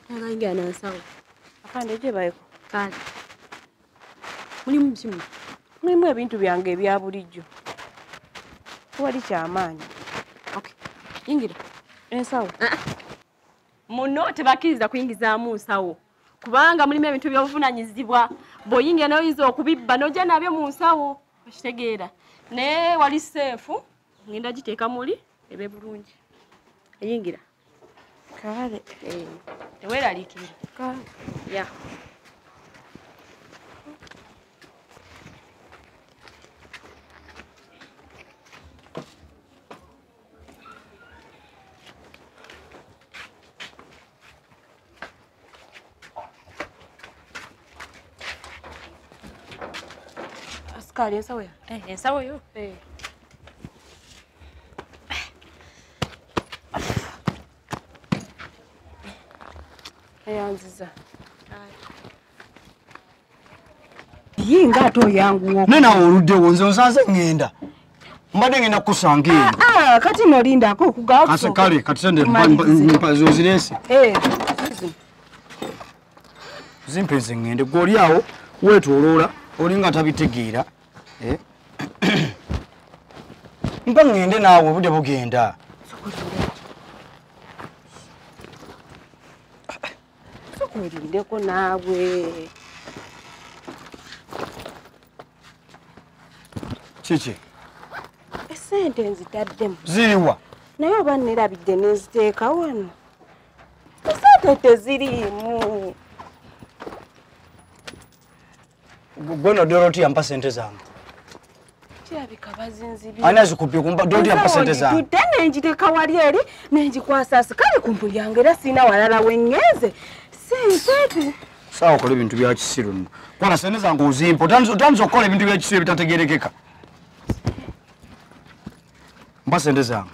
Nakaingia na nsawo. Afande je bayeko. Kale. Mulimu msimu. Mulimu ebintu byange ebya bulijjo. Wali kyamaanyi. Okay. Ingira. Ensawo. Ah, ah. Muno tebakiriza kuyingizaamu nsawo. Kubanga mulimu ebintu by'obuvunanyizibwa. Bw'oyingira nayo oyinza okubibba n'ojja nabyo mu nsawo. Okitegeera. Naye wali seefu. Ngenda giteeka muli. ebe bulungi eyingira kale eh, teweraliikirira kale ya askaali ensawo ya eh, ensawo yo eh. ayanziza ye nga ate oyanguwo naye nawe oluddewo nze onsanze ŋŋenda mbadde ŋenda kukusanga eyo ah, ah, kati nolindako okugakase kale kati sende ozirese eh, zimpe nze ŋŋende gwe oli awo weetoloola olinga tabitegeera eh? mpa ŋŋende naawe obudde bugenda sokuwerindeko naawe kiki esente nzitaddemu ziriwa naye oba nerabidde neziteeka wano esente teziriimu Gwe no Dorothy yampa sente zange. Kirabika bazinzibi. Ani azikupye kumpa Dorothy yampa sente zange. Tudde nenjiteka wali eri nenjikwasa asikali ku mpuli yange era sirina walala wengeze. Sente. Sawa okola ebintu bya kisiru nno. Kwana sente zange ozimpa otandise okukola ebintu bya kisiru ebitategerekeka. Mpa sente zange.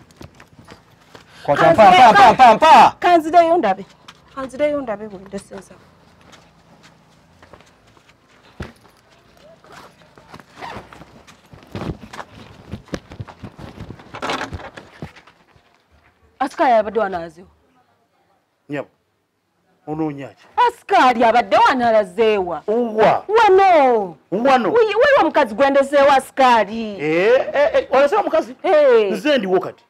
Kwata mpa mpa mpa mpa. Kanzireyo ndabe. Kanzireyo ndabe bwe ndesenza. asika yabadde wanalazeewo nyabo onoonyaki asikaali abadde wanalazeewa wa wano wano waliwo omukazi gwendeseewo asikaali eh, eh, eh, olazeewo omukazi nze ndiwo kati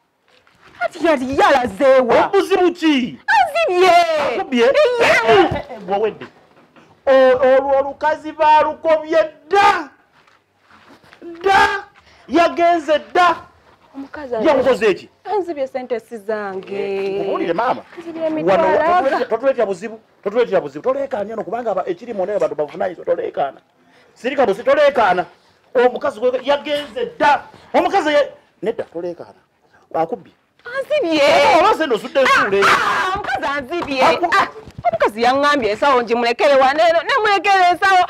kati kati ye alazeewa obuzibu ki azibye akubye gwowedde olwo olukazi balukobye dda dda yagenze dda yamukoze eki anzibye sente sizange owulire eh, maama totuletera buzibu totuletera buzibu toleekaana no kubanga ekiri mu naye bantu bavunanyizibwa toleekaana sirika busi toleekaana omukazi yagenze dda omukazi nedda toleekaana akubbye anzibyeomukazi anzibye omukazi yaŋambye ensawo ngimulekere wa nemulekere ensawo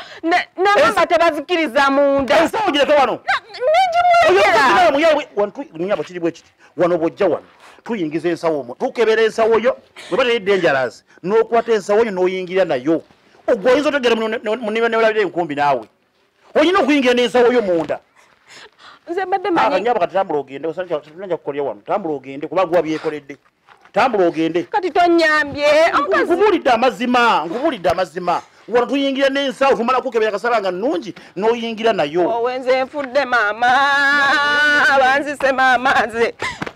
namamba tebazikiriza munda ensawo gireke wano ngimulekeranyabo kiri bwekiti wano bwojja wano tuyingiza ensawo omu tukebera ensawo yo weba teyidde enjalazi nokwata ensawo yo noyingira nayo ogwo oyinza otegera muniba newalabira enkumbi naawe olina okuyingira nensawo yo munda nzebaddeanyabo kati tambula ogende osannaja kukolya wano tambula ogende kuba guwa byekoledde tambula ogende kati tonyambye nkubulidde amazima nkubulidde amazima wano tuyingira nensawo tumala kukebera kasaba nga nungi noyingira nayo owenze nfudde maama banzise maama nze